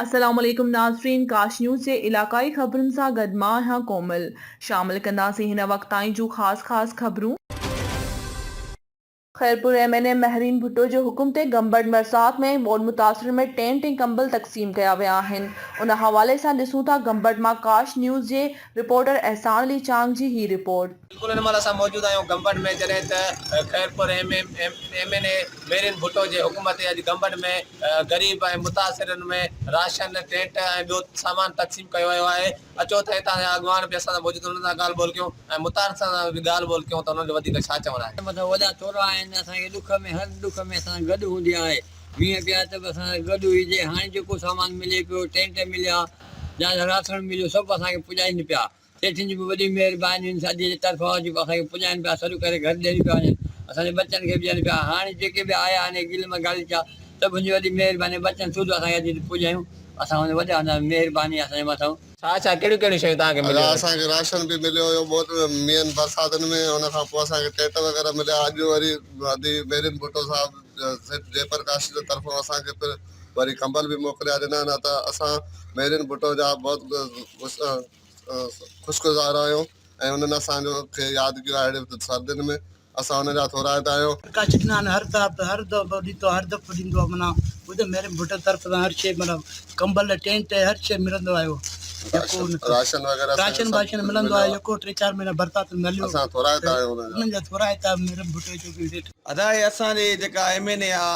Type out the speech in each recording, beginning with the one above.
السلام عليڪم ناظرين ڪاش نيوز جي علاقائي خبرن سان گڏ مان آهيان ڪومل. شامل ڪنداسين هن وقت تائين جون خاص خاص خبرون. Khairpur M N A Mehreen Bhutto جي حڪم تي گمبٽ مرصاد ۾ ٻوڏ متاثرن ۾ ٽينٽ ۽ ڪمبل تقسيم ڪيا ويا آهن ان حوالي سان ڏسون ٿا گمبٽ مان ڪاش نيوز جي رپورٽر احسان علي چانگ جي هي رپورٽ. بلڪل ان مهل اسان موجود آهيون گمبٽ ۾ جڏهن ته Khairpur M M N A Mehreen Bhutto جي حڪم تي اڄ گمبٽ ۾ غريب ۽ متاثرن ۾ راشن ٽينٽ ۽ ٻيو سامان تقسيم ڪيو ويو آهي اچو ته هتان جا اڳواڻ به اسان سان موجود آهن انهن سان ڳالهه ٻولهه ڪيون ۽ متاثرن سان به ڳالهه ٻولهه ڪيون ته انهن جو وڌيڪ ڇا چوڻ آهي. مٿان وڏا ٿورا آهن اسان کي ڏک ۾ هر ڏک ۾ اسان سان گڏ هوندي آهي مينهن پيا ته به اسان سان گڏ هئي جي هاڻي جيڪو سامان ملي پيو ٽينٽ مليا يا راسڻ مليو سڀ اسان کي پڄائين پيا. سيٺن جون به وڏيون مهربانيون ساجي جي طرفان هجن پيون اسان کي پڄائين پيا سڏ ڪري گهر ڏين پيا وڃن اسان جي ٻچن کي به ڏين پيا هاڻي جيڪي به آيا آهن گل ۾ غالچا سڀ هن جي وڏي مهرباني ٻچن سوڌو اسان کي اچي هتي پڄايون اسان هن وڏا هوندا هئاسين مهرباني اسان جي مٿان. ڇا ڇا ڪهڙيون ڪهڙيون شيون توهان کي مليون ادا آهن؟ اسان کي راشن به مليو هيو بوت مينهن برساتن ۾ ان کان پوء اسان کي ٽيٽ وغيره مليا اڄ وري ادي ميرين ڀٽو صاحب سيٺ جي پرڪاش جي طرفان اسان کي پھر وري ڪمبل به موڪليا ڏنا نه ته اسان ميرين ڀٽو جا بوت خوشگذار آهيون ۽ انهن اسان جو کي ياد ڪيو آهي اهڙي ريت سردين ۾ اسان انهن جا ٿورائتا آهيون. ڪاڇ ڏنا آهن هر ڌاپ هر دؤ ڏيتو هر دپ ڏيندو آهي منا ٻڌ مهرم ڀٽ طرف سان هر شيء منا ڪمبل ٽينٽ هر شيء ملندو آهيو يڪو راشن وغيره راشن باشن ملندو آهيو يڪو ٽي چار مهينا برسات ۾ هليو اسان ٿورائتا آهيون انهن جا ٿورائتا مهرم ڀٽ جو ڪي ڏيٺ. ادا هي اسان جي جيڪا ايم اين اي آ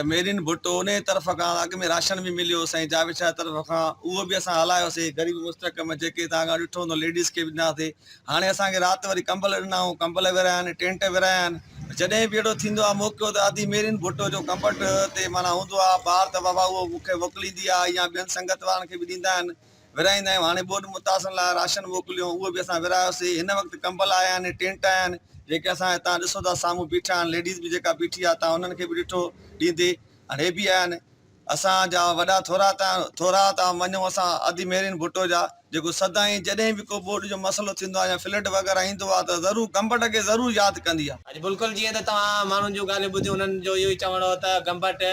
ميرين ڀٽو انهيء طرف کان اڳ ۾ راشن به مليو سائين جاويد شاهه طرف کان اهو به اسان هلايوسي غريب مستحڪم جيڪي توهان کان ڏٺو هوندو ليڊيز کي به ڏناسي هاڻي اسان کي رات وري ڪمبل ڏنائون ڪمبل ورهايا آهن ٽينٽ ورهايا آهن جڏهن به اهڙو ٿيندو آهي موقعو ته ادي ميرين ڀٽو جو ڪمبٽ تي معنيٰ هوندو آهي بار ته بابا اهو مون کي موڪليندي آهي يا ٻين سنگت وارن کي به ڏيندا آهن ورهائيندا آهيون هاڻي ٻوڏ متاثرن لاء راشن موڪليو اهو به اسان ورهايوسي هن وقت ڪمبل آيا آهن ۽ ٽينٽ آيا آهن جيڪي اسان هتان ڏسو ٿا سامهون بيٺا آهن ليڊيز به جيڪا بيٺي آهي تان انهن کي به ڏٺو ڏيندي هاڻي هي به آيا آهن اسان جا وڏا ٿورا تان ٿورا تان مڃون اسان ادي مهرين ڀٽو جا جيڪو سدائين جڏهن به ڪو ٻوڏ جو مسئلو ٿيندو آهي يا فلڊ وغيره ايندو آهي ته ضرور گمبٽ کي ضرور ياد ڪندي آهي. اڄ بلڪل جيئن ته توهان ماڻهن جون ڳالهيون ٻڌيون انهن جو اهو ئي چوڻ هو ته گمبٽ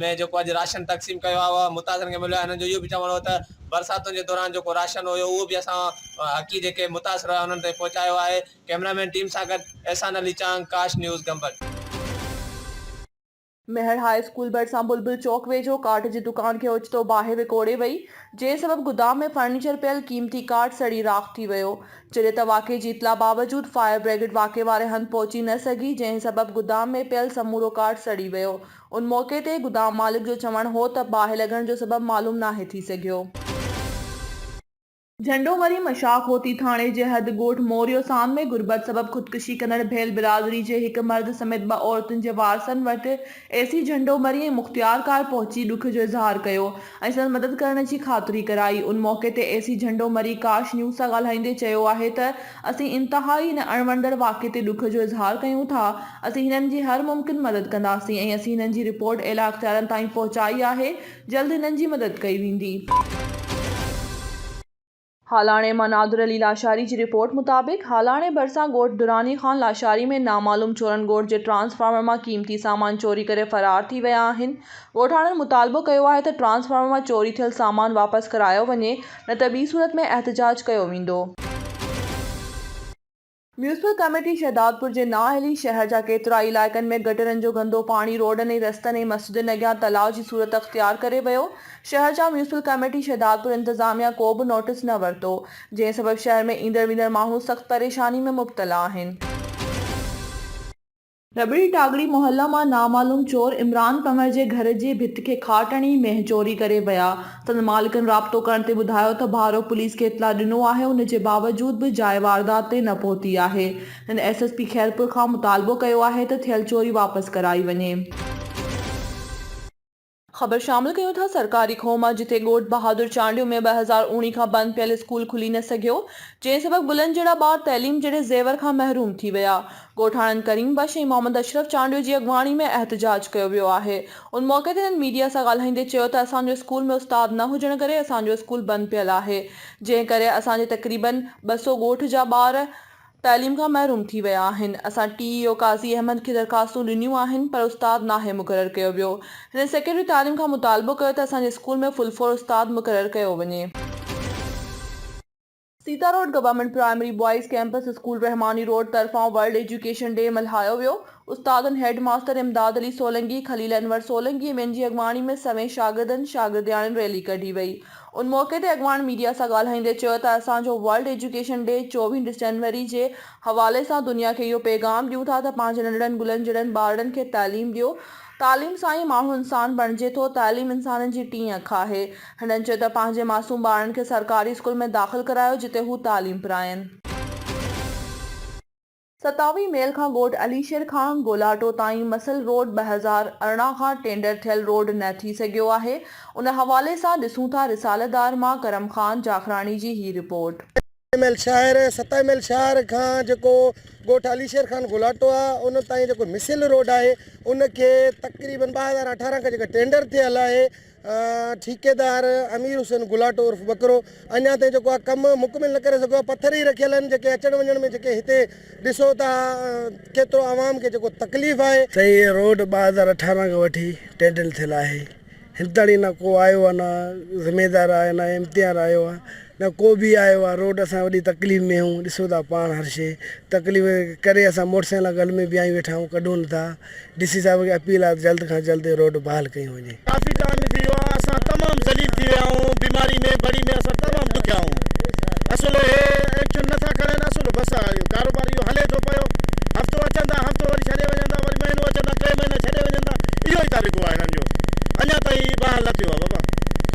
۾ جيڪو اڄ راشن تقسيم ڪيو آهي اهو متاثرن کي مليو آهي هنن جو اهو به چوڻ هو ته برساتن جي دوران جيڪو راشن هيو اهو به اسان حقي جيڪي متاثر هيا انهن تائين پهچايو آهي ڪئميرا مين ٽيم سان گڏ احسان علي چانگ ڪاش نيوز گمبٽ. مهڙ هاء اسڪول ڀرسان بلبل چوڪ ويجهو ڪاٺ جي دڪان کي اوچتو باهه وڪوڙي وئي، جنهن سبب گدام ۾ فرنيچر پيل قيمتي ڪاٺ سڙي راک ٿي ويو، جڏهن ته واقعي جي اطلاع باوجود فائر بريگيڊ واقعي واري هنڌ پهچي نه سگهي، جنهن سبب گدام ۾ پيل سمورو ڪاٺ سڙي ويو. ان موقعي تي گدام مالڪ جو چوڻ هو ته باهه لڳڻ جو سبب معلوم ناهي ٿي سگهيو. جهنڊو مري مشاخ هوتي ٿاڻي جي حد ڳوٺ موريو سام ۾ غربت سبب خودڪشي ڪندڙ ڀيل برادري جي هڪ مرد سميت ٻه عورتن جي وارثن وٽ اي سي جهنڊو مري ۽ مختيار ڪار پهچي ڏک جو اظهار ڪيو ۽ سندس مدد ڪرڻ جي خاطري ڪرائي. ان موقعي تي اي سي جهنڊو مري ڪاش نيوز سان ڳالهائيندي چيو آهي ته اسين انتهائي هن اڻ وڻندڙ واقعي تي ڏک جو اظهار ڪيون ٿا، اسين هنن جي هر ممڪن مدد ڪنداسين ۽ اسين هنن جي رپورٽ اعليٰ اختيارن تائين پهچائي آهي، جلد هنن جي مدد ڪئي ويندي. هالاڻي مان نادر علي لاشاري جي رپورٽ مطابق هالاڻي ڀرسان ڳوٺ دراني خان لاشاري ۾ نامعلوم چورن ڳوٺ جي ٽرانسفارمر مان قيمتي سامان چوري ڪري فرار ٿي ويا آهن ڳوٺاڻن مطالبو ڪيو آهي ته ٽرانسفارمر مان چوري ٿيل سامان واپس ڪرايو وڃي نه ته ٻي صورت ۾ احتجاج ڪيو ويندو. ميونسپل ڪميٽي شهدادپور جي نااهلي شهر جا ڪيترائي علائقن ۾ گٽرن جو گندو پاڻي روڊن ۽ رستن ۽ مسجدن اڳيان تلاء جي صورت اختيار ڪري ويو، شهر جا ميونسپل ڪميٽي شهدادپور انتظاميا ڪو به نوٽيس نه ورتو، جنهن سبب شهر ۾ ايندڙ ويندڙ ماڻهو سخت پريشاني ۾ مبتلا آهن. رٻڙي ٽاڳڙي محله مان نامعلوم چور عمران ڪنور جي گهر جي ڀت کي کاٽ هڻي مينهن چوري ڪري ويا، سندن مالڪن رابطو ڪرڻ تي ٻڌايو ته ڀارو پوليس کي اطلاع ڏنو آهي ان جي باوجود به جاء واردات تي نه پهتي آهي، هن ايس ايس پي خيرپور کان مطالبو ڪيو آهي ته ٿيل چوري واپس ڪرائي وڃي. خبر شامل ڪيون ٿا سرڪاري کوهه مان جتي ڳوٺ بهادر چانڊيو ۾ ٻه هزار اوڻي کان بند پيل اسڪول کلي نه سگهيو جنهن سبب گلن جهڙا ٻار تعليم جهڙي زيور کان محروم ٿي ويا ڳوٺاڻن ڪريم بخش ۽ محمد اشرف چانڊيو جي اڳواڻي ۾ احتجاج ڪيو ويو آهي ان موقعي تي هنن ميڊيا سان ڳالهائيندي چيو ته اسان جو اسڪول ۾ استاد نه هجڻ ڪري اسان جو اسڪول بند پيل آهي جنهن ڪري اسان جي تقريبن ٻه سؤ ڳوٺ جا ٻار تعليم کان محروم ٿي ويا آهن، اسان ٽي اي او قاضي احمد کي درخواستون ڏنيون آهن پر استاد ناهي مقرر ڪيو ويو، هن سيڪريٽري تعليم کان مطالبو ڪيو ته اسان جي اسڪول ۾ فل فور استاد مقرر ڪيو وڃي. Sita road government primary boys campus school Rahmani road طرفان ورلڊ ايجوڪيشن ڊي ملهايو ويو، استادن هيڊ ماستر امداد علي سولنگي، خليل انور سولنگي ۽ ٻين جي اڳواڻي ۾ سوين شاگردن، شاگردياڻين ريلي ڪڍي وئي، ان موقعي تي اڳواڻ ميڊيا سان ڳالهائيندي چيو ته اسان جو ورلڊ ايجوڪيشن ڊي چوويهه ڊسينوري جي حوالي سان دنيا کي اهو پيغام ڏيون ٿا ته پنهنجي ننڍڙن گلن جهڙن ٻارڙن کي تعليم ڏيو تعليم سان ئي ماڻهو انسان بڻجي ٿو تعليم انسانن جي ٽين اک آهي هنن چيو ته پنهنجي معصوم ٻارڙن کي سرڪاري اسڪول ۾ داخل ڪرايو جتي هو تعليم پراين. ستاوي ميل کان ڳوٺ علي شير کان گولاٽو تائين مسل روڊ ٻه هزار ارڙهن کان ٽينڊر ٿيل روڊ نه ٿي سگهيو آهي، ان حوالي سان ڏسون ٿا رساله دار مان ڪرم خان جاکراڻي جي هي رپورٽ. ستاوي ميل شهر، ستاوي ميل شهر کان جيڪو ڳوٺ علي شير کان گولاٽو آهي ان تائين جيڪو مسل روڊ آهي ان کي تقريبن ٻه هزار اٺارهن کان جيڪا ٽينڊر ٿيل آهي ٺيڪيدار امير حسين گلاٽو عرف ٻڪرو اڃا تائين جيڪو آ ڪم مڪمل نه ڪري سگهيو آ پٿر ئي رکيل آهن جيڪي اچڻ وڃڻ ۾ جيڪي هتي ڏسو ٿا ڪيترو عوام کي جيڪو تڪليف آهي. سائين هي روڊ ٻه هزار اٺارهن کان وٺي ٽينڊر ٿيل آهي هن تائين نه ڪو آيو آ نه زميدار آيو آ نه امتيار آيو آ. نه ڪو به آيو آ روڊ اسان وڏي تڪليف ۾ آهيون ڏسو ٿا پاڻ هر شي تڪليف ڪري اسان موٽر سائيڪلان گل ۾ بيهايون ويٺا آهيون ڪڍون نه ٿا ڊي سي صاحب کي اپيل آ ته جلد کان جلد روڊ بحال ڪيون وڃي. ڪافي ٽائم ٿي ويو آ اسان تمام ذليل ٿي ويا آهيون بيماري ۾ بڙي ۾ اسان تمام ڏکيا آهيون اصل هي ايڪشن نه ٿا کڻن اصل بس آ اهو ڪاروبار اهو هلي ٿو پيو هفتو اچن ٿا هفتو وري ڇڏي وڃن ٿا وري مهينو اچن ٿا ٽي مهينا ڇڏي وڃن ٿا اهو ئي طريقو آ هنن جو اڃا تائين بحال نه ٿيو آ بابا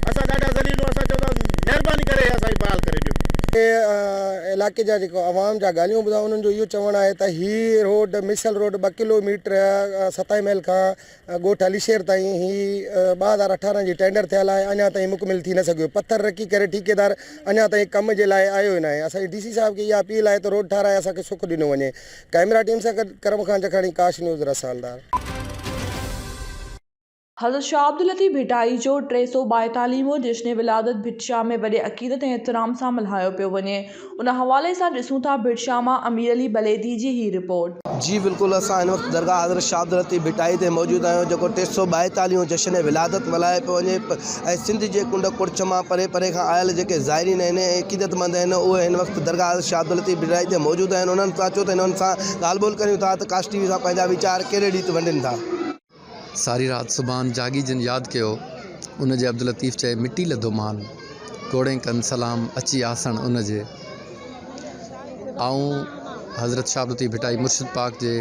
اسان ڏاڍا ذليل آهيون اسان چون ٿا مهرباني ڪري هي اسان کي بحال ڪري ڏيو. هي علائقي جا جيڪو عوام جا ڳالهيون ٻڌا انهن جو اهو چوڻ آهي ته هي روڊ ميسل روڊ ٻه ڪلو ميٽر ستائي محل کان ڳوٺ علي شير تائين هي ٻه هزار اٺارهن جي ٽينڊر ٿيل آهي اڃا تائين مڪمل ٿي نه سگهيو پٿر رکي ڪري ٺيڪيدار اڃا تائين ڪم جي لاء آيو ئي ناهي اسان جي ڊي سي صاحب کي اها اپيل آهي ته روڊ ٺاهرائي اسان کي سک ڏنو وڃي ڪئميرا ٽيم سان گڏ ڪرم خان جکاڻي ڪاش نيوز رسالدار. حضرت شاهه عبداللطيف ڀٽائي جو ٽي سؤ ٻائيتاليهه مون جشن ولادت ڀٽ شاهه ۾ وڏي عقيدت ۽ احترام سان ملهايو پيو وڃي ان حوالي سان ڏسون ٿا ڀٽ شاهه مان امير علي بليدي جي هي رپورٽ. جي بلڪل اسان هن وقت درگاهه حضرت شاهه عبداللطيف ڀٽائي تي موجود آهيون جيڪو ٽي سؤ ٻائيتاليهه مون جشن ولادت ملهايو پيو وڃي ۽ سنڌ جي ڪنڊ ڪڙڇ مان پري پري کان آيل جيڪي زائرين آهن ۽ عقيدت مند آهن اهي هن وقت درگاهه حضرت شاهه عبداللطيف ڀٽائي تي موجود آهن انهن سان اچو ته انهن سان ڳالهه ٻولهه ڪريون ٿا ته ڪاسٽي وي سان پنهنجا ويچار ڪهڙي ريت ونڊين ٿا. ساري رات سبحان جاڳي جن ياد ڪيو، ان جي عبداللطيف چئي مٽي لڌو مان، ڪوڙين ڪن سلام اچي آسڻ ان جي. آئون حضرت شاھ عبداللطيف ڀٽائي مرشد پاڪ جي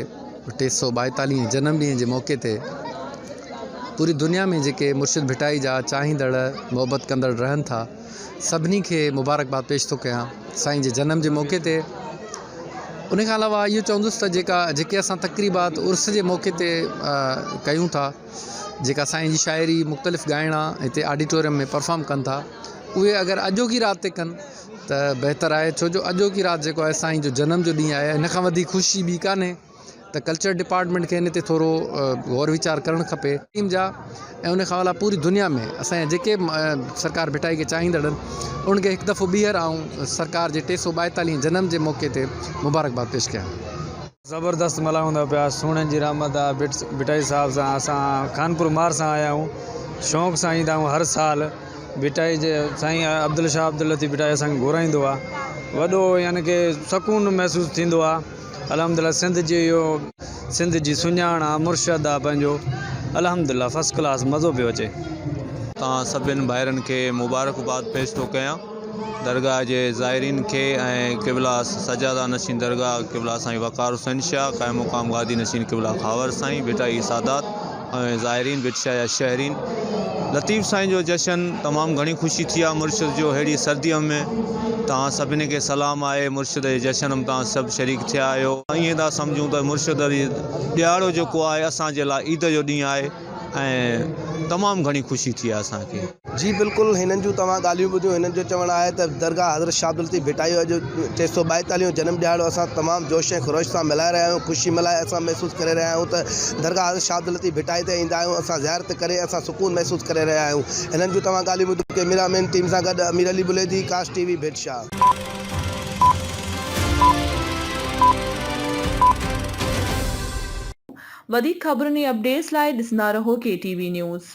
ٽي سؤ ٻائيتاليهين جنم ڏينهن جي موقعي تي پوري دنيا ۾ جيڪي مرشد ڀٽائي جا چاهيندڙ محبت ڪندڙ رهن ٿا، سڀني کي مبارڪباد پيش ٿو ڪيان سائين جي جنم جي موقعي تي ان کان علاوه اهو چوندس ته جيڪا جيڪي اسان تقريبات عرس جي موقعي تي ڪيون ٿا جيڪا سائين جي شاعري مختلف ڳائڻا هتي آڊيٽوريم ۾ پرفارم ڪن ٿا اهي اگر اڄوڪي رات تي ڪن ته بهتر آهي ڇو جو اڄوڪي رات جيڪو آهي سائين جو جنم جو ڏينهن آهي ان کان وڌيڪ خوشي ٻي ڪانهي ته ڪلچر ڊپارٽمينٽ کي ان تي ٿورو غور ويچار ڪرڻ کپي. ٽيم جا ۽ ان کان علاوه پوري دنيا ۾ اسان جا جيڪي به سرڪار ڀٽائي کي چاهيندڙ آهن انهن کي هڪ دفعو ٻيهر آئون سرڪار جي ٽي سؤ ٻائيتاليهين جنم جي موقعي تي مبارڪباد پيش ڪيان. زبردست ملهائون ٿا پيا سهڻن جي رحمت آ ڀٽائي صاحب سان اسان خانپور مار سان آيا آهيون شونق سان ايندا آهيون هر سال ڀٽائي جي سائين عبدالشاهه عبداللطيف ڀٽائي اسان کي گهرائيندو آ وڏو يعني ڪي سڪون محسوس ٿيندو آ. الحمد لله سنڌ جي اهو سنڌ جي سڃاڻ آ مرشد آ پنهنجو الحمد لله فرسٽ ڪلاس مزو پيو اچي. توهان سڀني ڀائرن کي مبارڪباد پيش ٿو ڪيان درگاهه جي زائرين کي ۽ قبله سجاده نشين درگاهه قبله سائين وقار حسين شاهه قائم مقام گادي نشين قبله خاور سائين ڀٽائي سادات ۽ زائرين به اچيا يا شهرين لطيف سائين جو جشن تمام گهڻي خوشي ٿي آ مرشد جو ههڙي سرديء ۾ توهان سڀني کي سلام آهي مرشد جي جشن م توهان سڀ شريڪ ٿيا آهيو ائين ٿا سمجهون ته مرشد جي ڏهاڙو جيڪو آهي اسان جي لاء عيد جو ڏينهن آهي ۽ تمام گهڻي خوشي ٿي آ اسان کي. جي بلڪل هنن جون توهان ڳالهيون ٻڌيون هنن جو چوڻ آهي ته درگاهه حضرت شاهه عبداللطيف ڀٽائي جو اڄ ٽي سؤ ٻائيتاليهون جو جنم ڏهاڙو اسان تمام جوش ۽ خروش سان ملهائي رهيا آهيون خوشي ملهائي اسان محسوس ڪري رهيا آهيون ته درگاهه حضرت شاهه عبداللطيف ڀٽائي تي ايندا آهيون اسان زيارت ڪري اسان سڪون محسوس ڪري رهيا آهيون هنن جون توهان ڳالهيون ٻڌيون ڪئميرا مين ٽيم سان گڏ امير علي بليدي ڪاسٽ ٽي وي ڀٽشاهه. وڌيڪ خبرن ۽ اپڊيٽس لاء ڏسندا رهو ڪي ٽي وي نيوز.